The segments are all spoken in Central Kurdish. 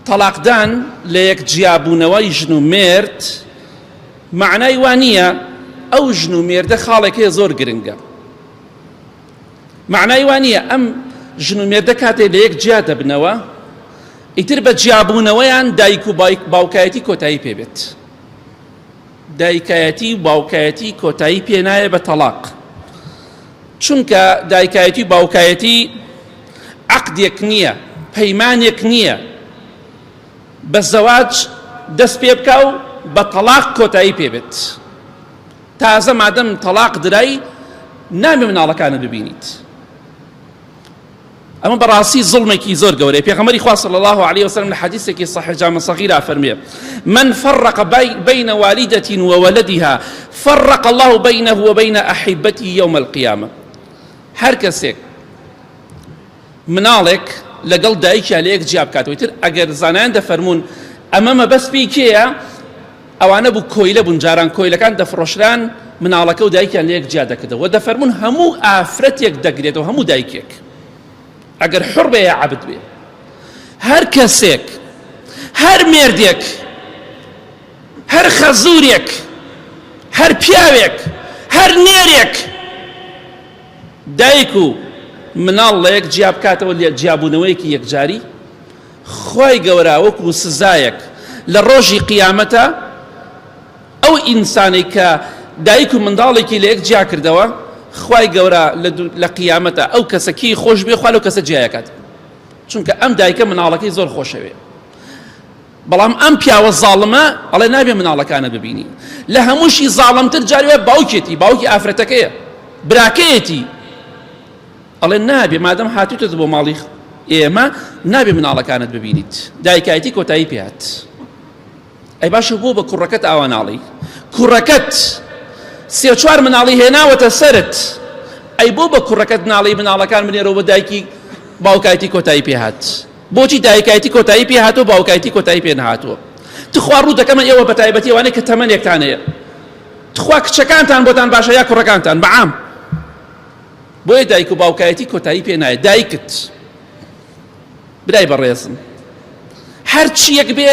تەڵاقدان لەیەک جیابوونەوەی ژن و مێرد مەعنای وا نییە ئەو ژن و مێردە خاڵێک هەیە زۆر گرنگە مەعنای وا نییە ئەم ژن و مێردە کاتێ لە یەک جیا دەبنەوە ئیتر بە جیابوونەوەیان دایک و باوکایەتی کۆتایی پێبێت دایکایەتی و باوکایەتی کۆتایی پێ نایە بە تەڵاق چونکە دایکایەتی و باوکایەتی عقدێک نییە پەیمانێک نییە بە زەواج دەست پێ بکە و بە تەلاق کۆتایی پێ بێت تازە مادەم تەلاق درای نامی مناڵەکانت ببینیت ئەمە بەڕاستی زڵمێکی زۆر گەورەی پێغەمەری خوا صلی الله علیه وسلم لە حەدیثێکی صحیح جامع صغیرا فەرمێ من فرق بین والدة وولدها فرق الله بینه وبین احبتی یوم القیامة هەر کەسێک مناڵێک لەگەڵ دایکیا لە یەک جیا بکاتەوەی تر ئەگەر زانایان دەفەرمونون ئەمە مەبەست پێی کێیە ئەوانە بوو کۆیلە بوون جاران کۆیلەکان دەفڕۆشران مناڵەکەو دایکیان لەیەک جیا دەکردەوە وە دەفەرموون هەموو ئافرەتێک دەگرێتەوە هەموو دایکێک ئەگەر حوڕ بێ یا عەبد بێ هەر کەسێک هەر مێردێک هەر خەزورێک هەر پیاوێک هەر نێرێک دایک و مناڵ لەیەک جیا بکاتەوە لە جیابوونەوەیەکی یەکجاری خوای گەورە وەکو سزایەک لە ڕۆژی قیامەتە ئەو ئینسانەی کە دایک و منداڵێکی لە یەک جیا کردەوە خوای گەورە لە قیامەتە ئەو کەسە کێی خۆش بێ خوا لەو کەسە جیایەکات چونکە ئەم دایکە مناڵەکەی زۆر خۆشەوێ بەڵام ئەم پیاوە زاڵمە ئەڵێ نابێ مناڵەکانە ببینی لە هەمووشی زاڵمتر جاروێ باوکێتی باوکی ئافرەتەکەیە براکەیەتی ئەڵێن نابێ مادەم هاتوتت بۆ ماڵی ئێمە نابێ مناڵەکانت ببینیت دایکایەتی کۆتایی پێات ئەی باشە بۆ بە کوڕەکەت ئاوا ناڵی کوڕەکەت سێ چوار مناڵی هێناوەتە سرت ئەی بۆ بە کوڕەکەت ناڵی مناڵەکان بنێرەوە بە دایکی باوکایەتی کۆتایی پێهات بۆچی دایکایەتی کۆتایی پێهاتەوە باوکایەتی کۆتایی پێ نهاتووە تخوا ڕوو دەکەمە ئێوە بە تایبەتیوانێک کە تەمەنێکتانەیە تخوا کچەکانتان بۆتان باشە یا کوڕەکانتان بەعام بۆیە دایک و باوکایەتی کۆتایی پێ نایە دایکت برای بەڕێزم هەر چیەک بێ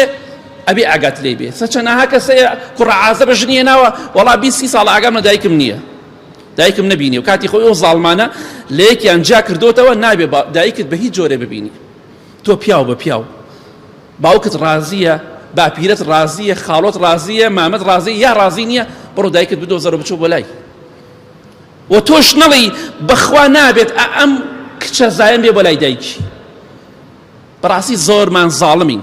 ئەبێ ئاگات لی بێ سەچەناها کەسەیە کوڕە عازە بە ژنیە ناوە وەڵا بیسی ساڵ ئاگام لە دایکم نییە دایکم نبینی و کاتی خۆی ئەو زاڵمانە لە یەکیان جا کردوتەوە نابێ دایکت بە هیچ جۆرە ببینی تۆ پیاو بە پیاو باوکت ڕازیە باپیرت ڕازیە خاڵۆت ڕازیە مامەت ڕازی یا ڕازی نییە بڕۆ دایکت بدۆزەرە بچۆ بۆ لای و تۆش نەڵی بەخوا نابێت ئەم کچە زایەن بێ بۆ لای دایکی بەڕاستی زۆرمان زاڵمین.